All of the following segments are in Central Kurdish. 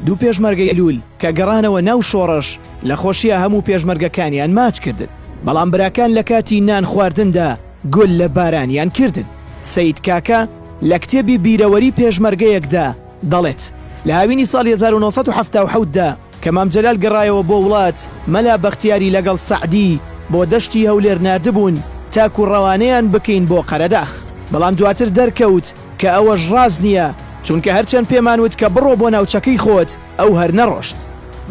دوو پێشمەرگەی لول کە گەڕانەوە ناو شۆڕش لە خۆشیا هەموو پێشمەرگەکانیان ماچ کردن بەڵام براکان لە کاتی نان خواردندا گول لە بارانیان کردن سەید کاکە لە کتێبی بیرەوەری پێشمەرگەیەکدا دەڵێت لە هاوینی ساڵی 1970 دا کە مام جەلال گەڕایەوە بۆ وڵات، مەلا بەختیاری لەگەڵ سەعدی بۆ دەشتی هەولێر ناردبوون تاکو ڕەوانەیان بکەین بۆ قەرەداخ، بەڵام دواتر دەرکەوت کە ئەوەش ڕاست نییە، چونکە هەرچەند پێمان وت کە بڕۆ بۆ ناوچەکەی خۆت، ئەو هەر نەڕۆشت.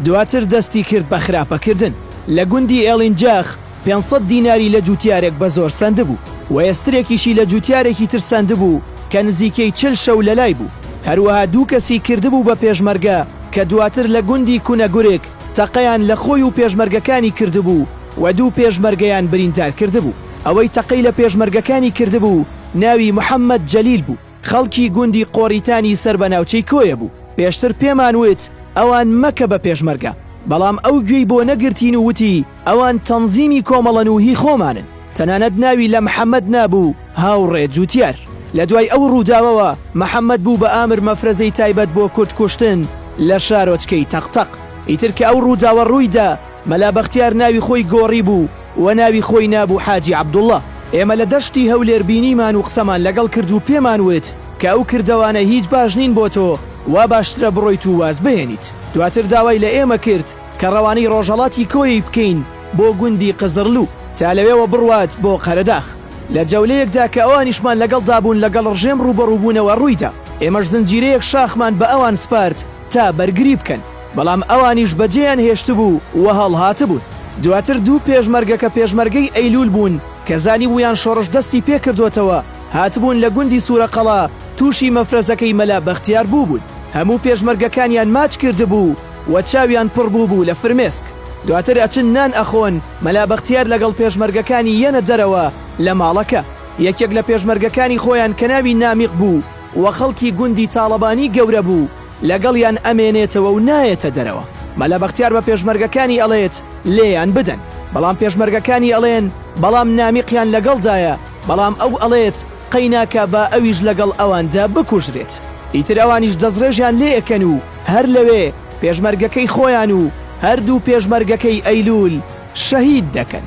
دواتر دەستی کرد بە خراپەکردن لە گوندی ئێڵینجاخ، پێنج سەد دیناری لە جووتیارێک بە زۆر سەندبوو و ئێسترێکیشی لە جووتیارێکی تر سەندبوو کە نزیکەی چل شەو لە لای بوو، هەروەها دوو کەسی کردبوو بە پێشمەرگە کە دواتر لە گوندی کونەگورک تەقەیان لە خۆی و پێشمەرگەکانی کردبوو و دوو پێشمەرگەیان بریندار کردبوو. ئەوەی تەقەی لە پێشمەرگەکانی کردبوو ناوی محەممەد جەلیل بوو. خەڵکی گوندی قۆڕیتانی سەر بە ناوچەی کۆیە بوو، پێشتر پێمان وت ئەوان مەکە بە پێشمەرگە، بەڵام ئەو گوێی بۆ نەگرتین و وتی ئەوان تەنزیمی کۆمەڵەن و هی خۆمانن، تەنانەت ناوی لە محەمەد نابوو، هاوڕێ جوتیار لە دوای ئەو ڕووداوەوە محەمەد بوو بە ئامر مەفرەزەی تایبەت بۆ کورد کوشتن لە شارۆچکەی تەق تەق، ئیتر کە ئەو ڕووداوە ڕووی دا، مەلا بەختیار ناوی خۆی گۆڕیبوو و ناوی خۆی نابوو حاجی عەبدوڵڵا. ئێمە لە دەشتی هەولێر بینیمان و قسەمان لەگەڵ کرد و پێمان وت کە ئەو کردەوانە هیچ باش نین بۆ تۆ، وا باشترە بڕۆیت و واز بهێنیت. دواتر داوای لە ئێمە کرد کە ڕەوانەی ڕۆژهەڵاتی کۆیەی بکەین بۆ گوندی قزڕلوو تا لەوێوە بڕوات بۆ قەرەداخ. لە جەولەیەکدا کە ئەوانیشمان لەگەڵدا بوون لەگەڵ ڕژێم ڕووبەڕووبوونەوە ڕوویدا. ئێمەش زنجیرەیەک شاخمان بە ئەوان سپارد تا بەرگری بکەن، بەڵام ئەوانیش بەجێیان هێشتبوو و هەڵهاتبوون. دواتر دوو پێشمەرگە کە پێشمەرگەی ئەیلوول بوون کە زانیبوویان شۆڕش دەستی پێ کردۆتەوە، هاتبوون لە گوندی سوورەقەڵا تووشی مەفرەزەکەی مەلا بەختیار بووبوون. هەموو پێشمەرگەکانیان ماچ کردبوو و چاویان پڕ بووبوو لە فرمێسک. دواتر ئەچن نان ئەخۆن، مەلا بەختیار لەگەڵ پێشمەرگەکانی یەنە دەرەوە لە ماڵەکە. یەکێک لە پێشمەرگەکانی خۆیان کە ناوی نامیق بوو، و خەڵکی گوندی تاڵەبانی گەورە بوو لەگەڵیان ئەمێنێتەوە و نایەتە دەرەوە مەلا بەختیار بە پێشمەرگەکانی ئەڵێت لێیان بدەن بەڵام پێشمەرگەکانی ئەڵێن بەڵام نامیقیان لەگەڵدایە بەڵام ئەو ئەڵێت قەیناکا با ئەویش لەگەڵ ئەواندا بکوژرێت ئیتر ئەوانیش دەسڕێژیان لێ ئەکەن و هەر لەوێ پێشمەرگەکەی خۆیان و هەردوو پێشمەرگەکەی ئەیلول شەهید دەکەن.